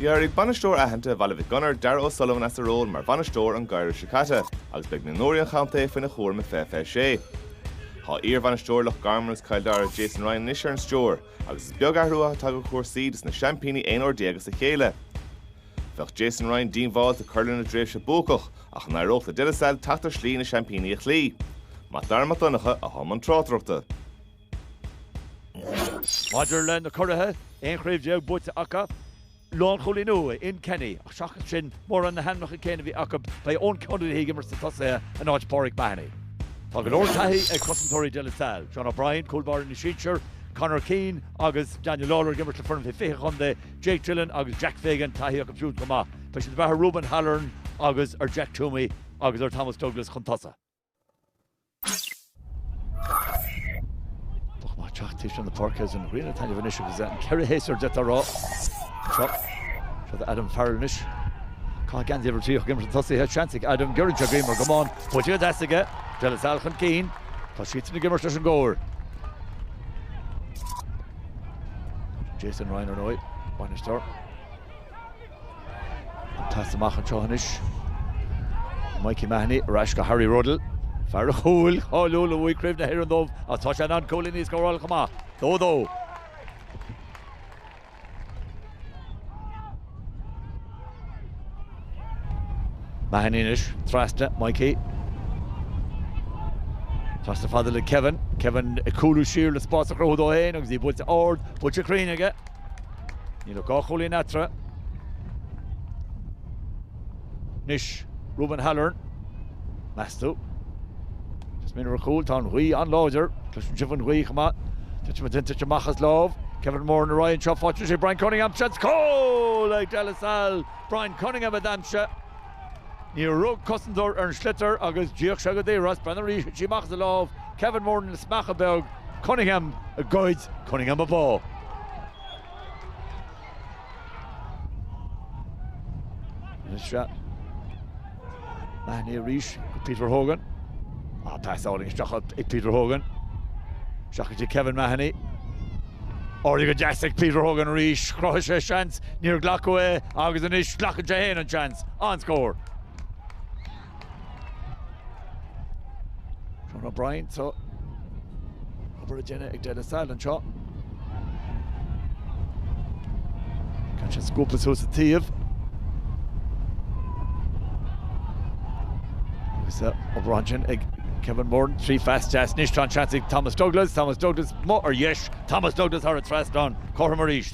D'éirigh bainisteoir aitheanta Bhaile Mhic Gonair, Darragh O'Sullivan as a ról mar bhainisteoir an geimhreadh seo caite agus beidh mionúirí an chontae faoina chúram i 2026. Tá iarbhainisteoir Loch Garman agus Cill Dara, Jason Ryan anois ar an stiúir agus is beag athrú atá tagtha ar chúrsaí dos na seaimpíní aon uair déag as a chéile. Bheadh Jason Ryan diongbháilte cur lena dtréimhse buacach ach an éireodh le De La Salle teacht ar shlí leis na seaimpíní a chloí? Mac Dara Mac Donncha a thug an tráchtaireacht. Maidir le na curaidh, 11 chraobh buaite acu, lánchúilín uaidh, Ian Kenny, ach seachas sin, mórán na hainmneacha céanna a bhí acu, beidh Eoin Connolly ag imirt sna tosaithe in áit Pauric Mahony. Tá go leor taithí ag cosantóirí De La Salle, John O'Brien, cúl báire na sinsear, Conor Keane agus Daniel Lawlor ag imirt le foireann fé 20 chontae, Jake Dillon agus Jack Fagan, taithí acu siúd chomh maith. Beidh siad ag brath ar Reuben Halloran agus ar Jack Twomey agus ar Thomas Douglas chun tosaigh. Bheadh maith teacht taobh thiar na páirce as an ghrian taitneamh anois agus é an ceithre shéasúr de atá rá. Seo do Adam Farrell anois. Caithfidh Andy oiread tríocha giorra tosaithe, seans ag Adam giorra deag aomair go mbonn. Buaite go deas aige. De La Salle chun cinn. Tá siadsan ag imirt leis an gcóir. Jason Ryan ar ndóigh. Bainisteoir. Casadh amach anseo anois Mikey Mahoney ar ais go Harry Ruddle, fear an chúil cháiliúil a bhuaigh Craobh na hÉireann dóibh ach tá sé in ann cúilíní a scóráil chomh maith. Dó dó. Mahoney anois trasna Mikey. Trasna fada le Kevin. Kevin ag cúlú siar le spás a chruthú dó féin agus í buailte ard, buailte cruinn aige. Níl ach dhá chúilín eatarthu anois. Reuben Halloran, meas tú? Is minic ar chúl, tá an ghaoth an-láidir. Cloiseann sibh an ghaoth chomh maith. Tá sí tite amach as a lámh Kevin Moran ar aghaidh anseo. Faighte ag Brian Cunningham. Seans cúl ag De La Salle. Brian Cunningham a d'aimsigh. Níor rug cosantóir ar an sliotar agus d'íoc sé go daor as, breathnaigh arís, thit sí amach as a lámh, Kevin Moran le smeach beag, Cunningham a ghoid, Cunningham a bháigh. Anois seo, Mahony arís chuig Peter Hogan, ó pas álainn isteach ag Peter Hogan, isteach go dtí Kevin Mahony, oibrithe go deas ag Peter Hogan arís, chruthaigh sé seans, Níor glacadh é agus anois glacann sé féin an seans. An scór. Seán O'Brien sa obair a deineadh ag De La Salle anseo. Can't sé scúpa suas sa taobh. Agus obair ansin ag Kevin Moran, trí phas deas anois tá an seans ag Thomas Douglas, Thomas Douglas, amuigh ar dheis, Thomas Douglas thar an trasnán, cothrom arís.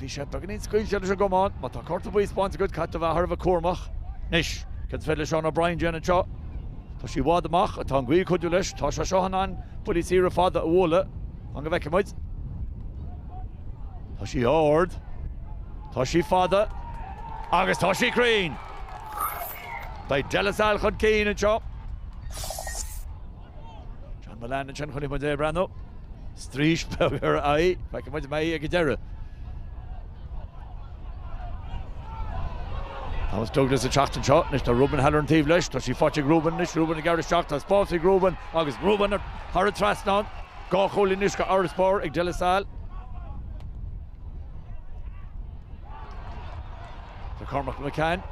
Bhí sé beagáinín scaoilte leis an gcamán. Má tá cárta buí spáinte agat, caithfidh tú a bheith thar a bheith cúramach. Anois, céard is féidir le Seán O'Brien a dhéanamh anseo? Tá sí i bhfad amach ach tá an ghaoth ag cuidiú leis. Tá sé seo in ann buillí saora fada a bhualadh. Fan go bhfeicfidh muid. Tá sí ard. Tá sí fada. Agus tá sí cruinn! Beidh De La Salle chun cinn anseo. John Mullane ansin chun muid a bhreathnú. Straois beag ar a aghaidh. Feicfidh muid an mbeidh ag an deireadh. Thomas Douglas ag teacht anseo. Anois tá Ruben Halloran taobh leis. Tá sí faighte ag Ruben anois. Ruben ag gearradh isteach. Tá spás ag Ruben agus Ruben thar an trasnán. Dhá chúilín anois d'fharasbarr ag De La Salle. Tá Cormac McCann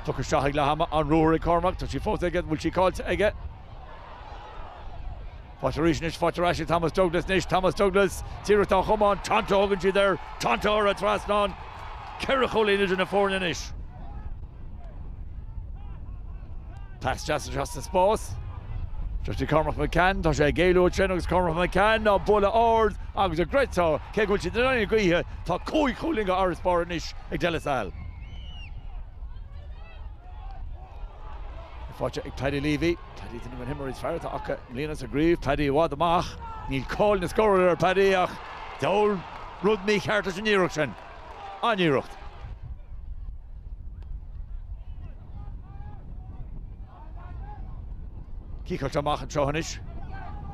tugtha isteach ag leath ama. An-ruathar ag Cormac. Tá sí fós aige. Bhfuil sí caillte aige? Faighte ar ais anois, faighte ar ais ag Thomas Douglas anois, Thomas Douglas, tíreach dá chumann, Tonto a thugann siad air, Tonto thar an trasnán, ceithre chúilín idir na foirne anois. Pas deas anois as an spás, deirtear ag Cormac McCann, tá sé ag éalú ansin agus Cormac McCann á bualadh ard agus an gcreidfeá cé go bhfuil siad in aghaidh na gaoithe, tá cúig chúilín d'fharasbarr anois ag De La Salle. Seilbh faighte ag Paddy Leavey, Paddy duine de na himreoirí is fearr atá acu i mbliana, sa gcraobh. Paddy i bhfad amach. Níl cáil na scór ar Paddy ach diabhal rud mícheart leis an iarracht sin. An-iarracht. Ciceáilte amach anseo anois.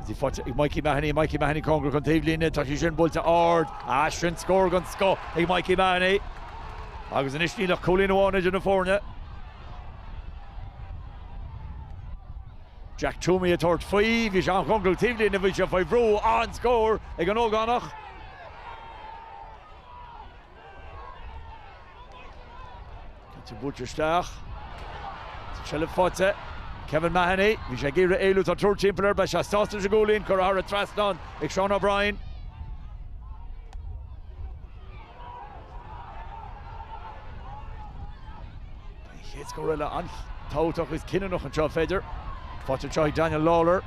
Seilbh faighte ag Mikey Mahony, Mikey Mahony cóngarach don taobhlíne, tá sí sin buailte ard. Ah sin scór den scoth ag Mikey Mahony. Agus anois níl ach cúilín amháin idir na foirne. Jack Twomey ag tabhairt faoi. Bhí sé an-chóngarach don taobhlíne, bhí sé faoi bhrú, an-scór ag an ógánach. Cinnte buailte isteach. Seilbh faighte. Kevin Mahony, bhí sé ag iarraidh éalú, tá triúr timpeall air, beidh sé sásta leis an gcúilín, curtha thar an trasnán ag Seán O'Brien. An chéad scór eile an-tábhachtach agus cinniúnach anseo, an féidir? Faighte anseo ag Daniel Lawlor.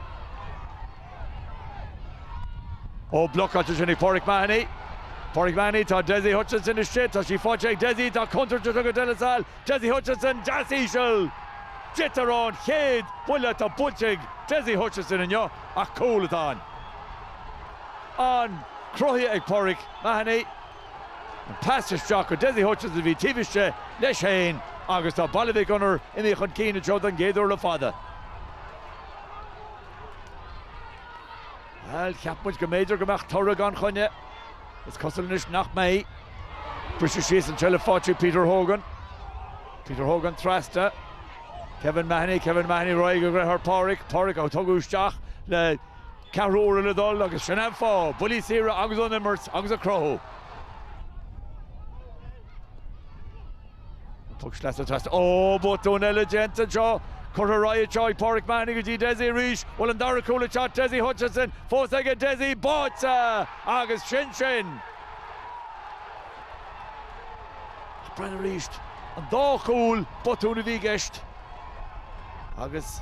Ó, blocáilte sin ag Pauric Mahony. Pauric Mahony, tá Dessie Hutchinson istigh, tá sí faighte ag Dessie, tá contúirt anseo, Dessie Hutchinson, deas íseal! Sin é an chéad bhuille atá buailte ag Dessie Hutchinson inniu ach cúl atá ann. Cruthaithe ag Pauric. Mahony. An pas isteach go Dessie Hutchinson a bhí taobh istigh leis féin agus tá Baile Mhic Gonair anois chun cinn anseo don gcéad uair le fada. Bhuel, cheap muid go mb'fhéidir go mbeadh toradh gan choinne. Is cosúil anois nach mbeidh. Briseadh síos anseo le fáil ag Peter Hogan. Peter Hogan trasna. Kevin Mahony, Kevin Mahony ar aghaidh go dtí a dheartháir Pauric. Pauric á tabhairt isteach le Ceathrúra le dul agus sin é fáth buillí saora agus an imirt agus an cruthú. Tug sleasa trasna. Ó, botún eile déanta anseo. Curtha ar aghaidh anseo ag Pauric Mahony go dtí Dessie arís. An bhfuil an dara cúl le teacht Dessie Hutchinson fós aige Dessie báite agus sin sin! Ó, Brian, arís an dá chúl botún a bhí i gceist agus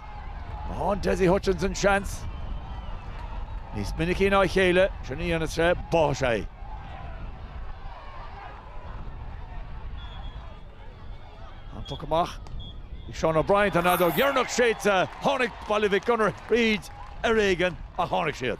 má fhaigheann Dessie Hutchinson seans níos minicí ná a chéile sin a dhéanann sé. Bánn sé é. An puc amach ag Seán O'Brien, tá an fheadóg dheireanach séidte, tháinig Baile Mhic Gonair tríd ar éigean ach tháinig siad.